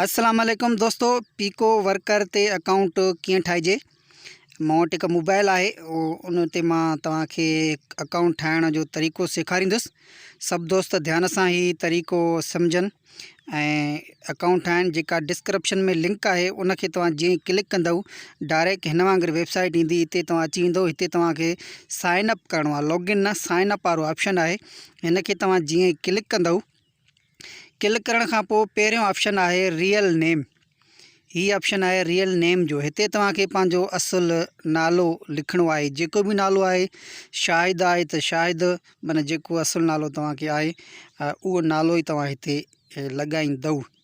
السلام عليڪم دوستو پيڪو ورڪر تي اڪائونٽ ڪيئن ٺاهجي مون وٽ هڪ موبائل آهي ان تي مان توهان کي اڪائونٽ ٺاهڻ جو طريقو سيکاريندس سڀ دوست ڌيان سان هي طريقو سمجھن ۽ اڪائونٽ ٺاهن جيڪا ڊسڪرپشن ۾ لنڪ آهي ان کي توهان جيئن ڪلڪ ڪندو ڊائريڪٽ هن وانگر ويبسائيٽ ايندي هتي توهان اچي ويندو هتي توهان کي سائن اپ ڪرڻو آهي لوگن نه سائن اپ وارو آپشن آهي هن کي توهان جيئن ڪلڪ ڪندو ڪلڪ ڪرڻ کان پوء پهريون آپشن آهي ريئل نيم هي آپشن آهي ريئل نيم جو هتي توهان کي پنهنجو اصل نالو لکڻو آهي جيڪو به نالو آهي شاهد آهي ته شاهد معنی جيڪو اصل نالو توهان کي آهي اهو نالو ئي توهان هتي لڳائيندو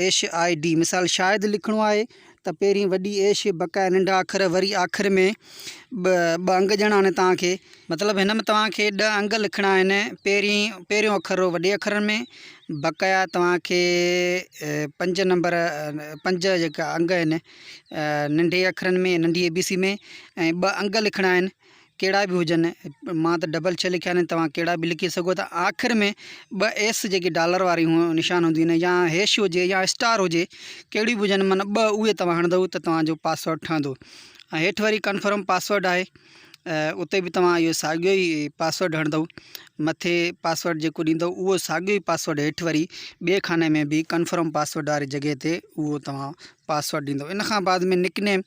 ايش آء ڊي مثال شايد لکڻو آهي ته پهرين وڏي ايش بقايا ننڍا اکر وري آخر ۾ ٻه ٻه انگ ڏيڻا آهن توهان کي مطلب هن ۾ توهان کي ڏهه انگ لکڻا آهن پهرين پهريون اکر هو وڏي اکرن ۾ بقايا توهان کي پنج نمبر پنج جيڪا انگ آهن ننڍي اکرن ۾ ننڍي اي بي سي ۾ ۽ ٻه انگ لکڻا آهن ڪهڙا به هجن مان ته ڊبل ڇهه لکيا آهن توهان ڪهڙا به لکي سگهو ٿا آخر ۾ ٻه ايس جيڪي ڊالر واري نشان هونديون آهن يا هيش هجي يا اسٽار هجي ڪهڙيون به هجن معنيٰ ٻه اهي توهان هڻندو ته توهان جو پاسورڊ ٺهندو ۽ هيٺ وري ڪنفرم پاسورڊ آهي اتي به توهان اهو ساڳيو ئي پاسورڊ هڻندو مٿي پاسورڊ جيڪو ڏيندو اهو ساڳيو ئي پاسورڊ هيٺ وري ٻئي خاني ۾ به ڪنفرم پاسورڊ واري جڳهه تي اهو توهان پاسورڊ ڏيندو ان کان بعد ۾ نڪ نيم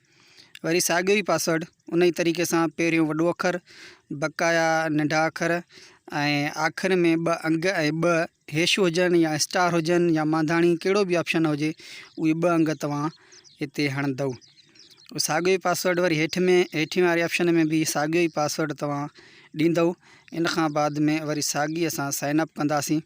وري ساڳيو ئي پاسورڊ ان ئي طريقي سان پهريون وڏو اکر بقايا ننڍا اکر ۽ آخر ۾ ٻه انگ ۽ ٻه هيش هجن يا اسٽار هجن يا مانڌاڻي ڪهڙو به آپشن هجي اهي ٻه انگ توهان هتي هڻندو ساڳيو ئي پاسورڊ وري هيٺ ۾ هيٺين واري آپشن ۾ به ساڳيو ئي پاسورڊ توهان ڏيندو ان کان بعد ۾ وري ساڳي اسان سائن اپ ڪنداسين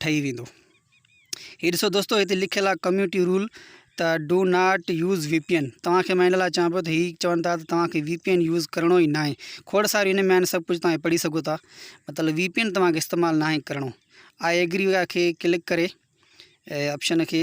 ٺهي ويندو. هي ڏسو دوستو هتي لکيل آ ڪميونٽي رول ته do not use V P N توهان کي مان ان لاء چوان پيو ته هي چون ٿا ته توهان کي وي پي اين يوز ڪرڻو ئي ناهي کوڙ ساري ان ۾ آهن سڀ ڪجهه توهان پڙهي سگهو ٿا مطلب وي پي اين توهان کي استعمال ناهي ڪرڻو آء ايگري کي ڪلڪ ڪري آپشن کي